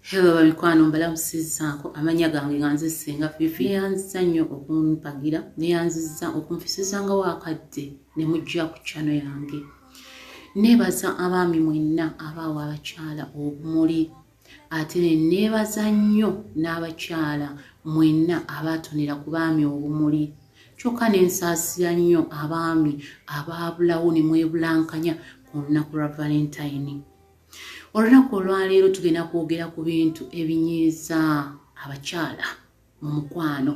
Hello bamikwano mbalamusizaako amanya gange nga nze senga fifi yeyanziza nnyo okumpagira neyanziza okunfisizanga wakadde ne mujja ku kyano yange nebaza abaami mwenna abaawa abakyala obumuli ate neneebaza nnyo n'abakyala mwenna abaatonera ku baami obumuli kyokka ne nsaasira nnyo abaami abaabulawo ne mwebulankanya ku lunaku lwa valentayini olunaku olwaleero tugenda kwogera ku bintu ebinyiiza abakyala mu mukwano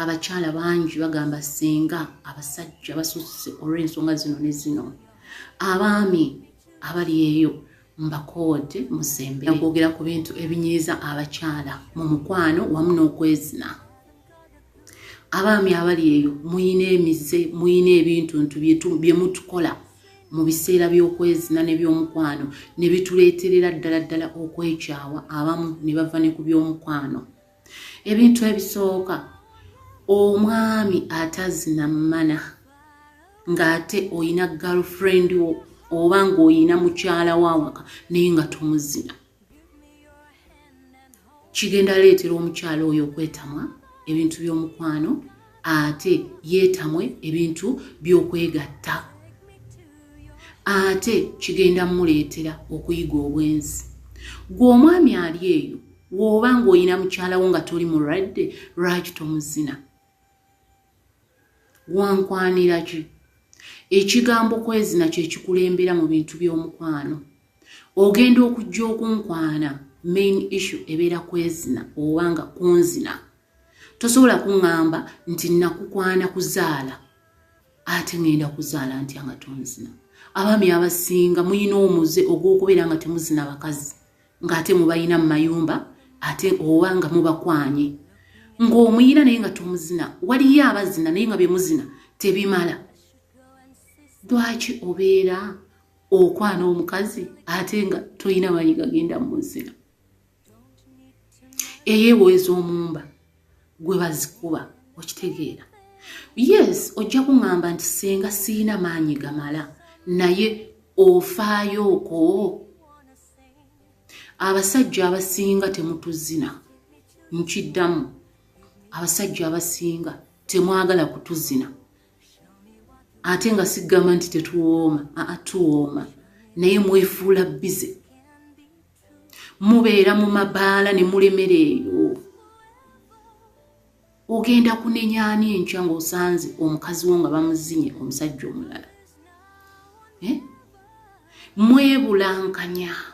abakyala bangi bagamba singa abasajja basusse olw'ensonga zino ne zino abaami abali eyo mbakoode musembe nakwogera ku bintu ebinyiiza abakyala mu mukwano wamu n'okwezina abaami abali eyo muyina emize muyina ebintuntu byemutukola mu biseera by'okwezina nebyomukwano ne bituleeterera ddala ddala okwekyawa abamu ne bava ne ku byomukwano ebintu ebisooka omwami atazina mana ng'ate olina girlfriend wo oba ng'olina mukyala wawaka naye nga tomuzina kigenda leetera omukyala oyo okwetamwa ebintu by'omukwano ate yeetamwe ebintu by'okwegatta ate kigenda muleetera okuyiga obwenzi gwe omwami ali eyo wooba ng'olina mukyalawo nga toli mulwadde lwaki tomuzina wankwanira ki ekigambo kwezina kyekikulembera mu bintu by'omukwano ogenda okujja okunkwana main issue ebeera kwezina oba nga kunzina tosobola kuŋŋamba nti nakukwana kuzaala ate ŋŋenda kuzaala ntya nga tonzina abaami abasinga mulina omuze ogw'okubeera nga temuzina bakazi ng'ate mubalina mu mayumba ate oba nga mubakwanye ng'omuyina naye nga tomuzina waliyo abazina naye nga bye muzina tebimala lwaki obeera okwana omukazi ate nga tolina manyi gagenda mu nzira eyewoeza omumba gwe bazikuba okitegeera yes ojja kuŋamba nti singa siina maanyi gamala naye ofaayooko abasajja abasinga temutuzina nkiddamu abasajja abasinga temwagala kutuzina ate nga sigamba nti tetuwooma aa tuwooma naye mwefuula bize mubeera mu mabaala ne mulemera eyo ogenda kunenya ani enkya ng'osanze omukazi wo nga bamuzinye omusajja omulala eh? mwebulankanya eh?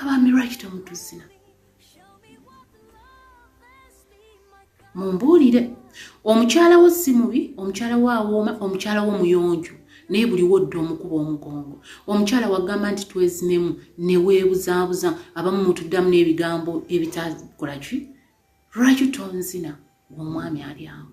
abaami lwaki temutuzina mumbuulire omukyala wo si mubi omukyala wo awooma omukyala wo muyonjo naye buli wodda omukuba omugongo omukyala wagamba nti twezinemu neweebuzaabuza abamu mutuddamu n'ebigambo ebitakolaki lwaki tonzina gweomwami ali awo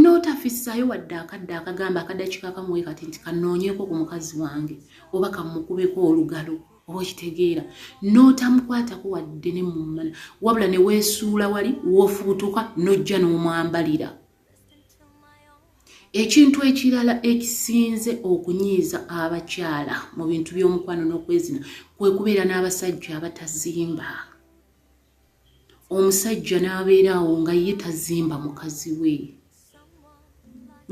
n'otafissaayo wadde akadde akagamba akadakika kamuwe kati nti kanoonyeko ku mukazi wange oba kamukubeko olugalo oba okitegeera n'otamukwatako wadde ne mumala wabula ne weesuula wali woofubutuka n'ojja n'omwambalira ekintu ekirala ekisinze okunyiiza abakyala mu bintu by'omukwano n'okwezina kwe kubeera n'abasajja abatazimba omusajja n'abeera awo nga ye tazimba mukazi we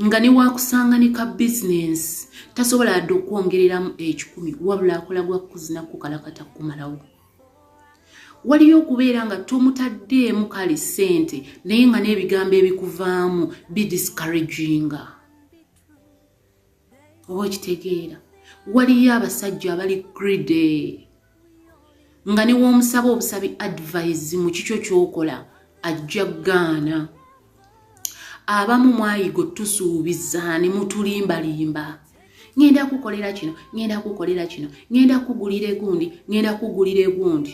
nga newakusanga ne ka bizinensi tasobola adde okwongereramu ekikumi wabula akola gwa kuzina kukalakata kukumalawo waliyo okubeera nga tomutaddeemu kale ssente naye nga n'ebigambo ebikuvaamu bidiscouraginga oba okitegeera waliyo abasajja abali gride nga newoomusaba obusabi advise mu kikyo kyokola ajja gaana abamu mwayigo tusuubiza ne mutulimbalimba ŋenda kukolera kino ŋenda kukolera kino ŋenda kugulira egundi ŋenda kugulira egundi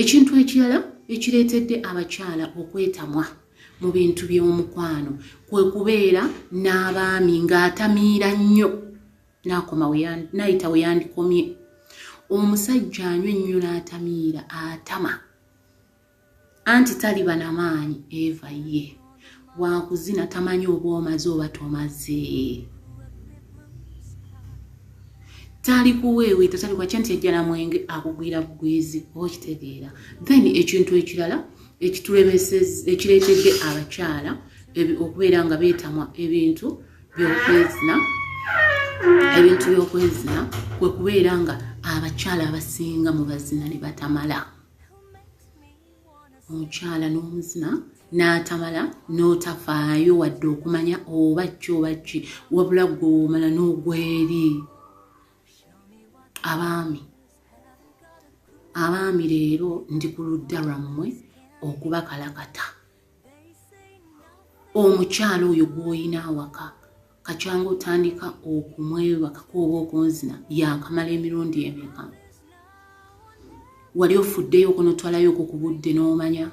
ekintu ekirala ekireetedde abakyala okwetamwa mu bintu by'omukwano kwe kubeera n'abaami ng'atamiira nnyo n'akoma n'ayita we yandikomye omusajja anywa ennyo n'atamiira atama anti taliba na maanyi eva ye wakuzina tamanyi oba omaze oba tomaze tali kuweeweeta tali kwakya nti ejjala mwenge akugwira bugwizi oba okitegeera then ekintu ekirala ekireetedde abakyala okubeera nga beetamwa ebintu byokwezina ebintu byokwezina kwe kubeera nga abakyala abasinga mu bazina ne batamala omukyala n'omuzina n'atamala n'otafaayo wadde okumanya oba ki oba ki wabula gwewomala n'ogweri abaami abaami leero ndi ku ludda lwammwe okubakalakata omukyala oyo gw'olina awaka kakyanga otandika okumwebakako oba okunzina yakamala emirundi emeka wali ofuddeyo okunotwalayo okwo ku budde n'omanya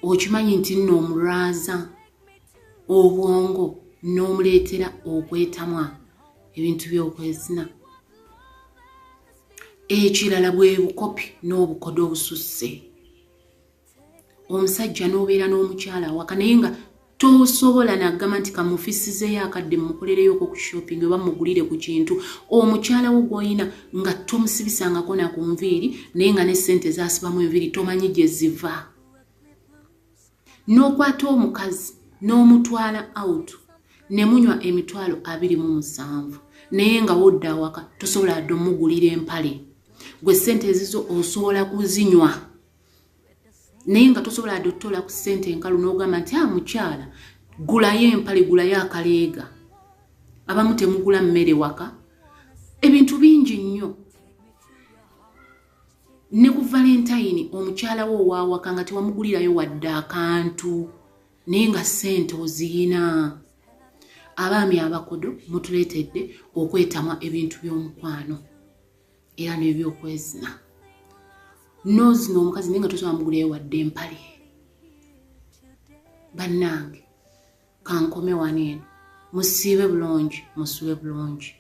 okimanyi nti nno omulwaza obwongo n'omuleetera okwetamwa ebintu by'okwezina ekirala bwe bukopi n'obukodo obususse omusajja n'obeera n'omukyala awaka naye nga tosobola nagamba nti kamufisizeyo akadde mukolereyo oko ku shopping oba mugulire ku kintu omukyala wo gwolina nga tomusibisangako na ku nviiri naye nga ne ssente zasibamu enviiri tomanyi gye ziva n'okwata omukazi n'omutwala out ne munywa emitwalo abiri mu musanvu naye nga wodda awaka tosobola adde omugulira empale gwe ssente ezizo osobola kuzinywa naye nga tosobola adde otutola ku ssente enkalu n'ogamba nti a ah, mukyala gulayo empale gulayo akaleega abamu temugula mmere waka ebintu bingi nnyo ne ku valentayini omukyala wo owaawaka nga tewamugulirayo wadde akantu naye nga ssente oziyina abaami abakodo mutuleetedde okwetamwa ebintu by'omukwano era n'ebyokwezina nozina omukazi naye nga tosobola mugulayo wadde empale bannange kankomewaneeno musiibe bulungi musube bulungi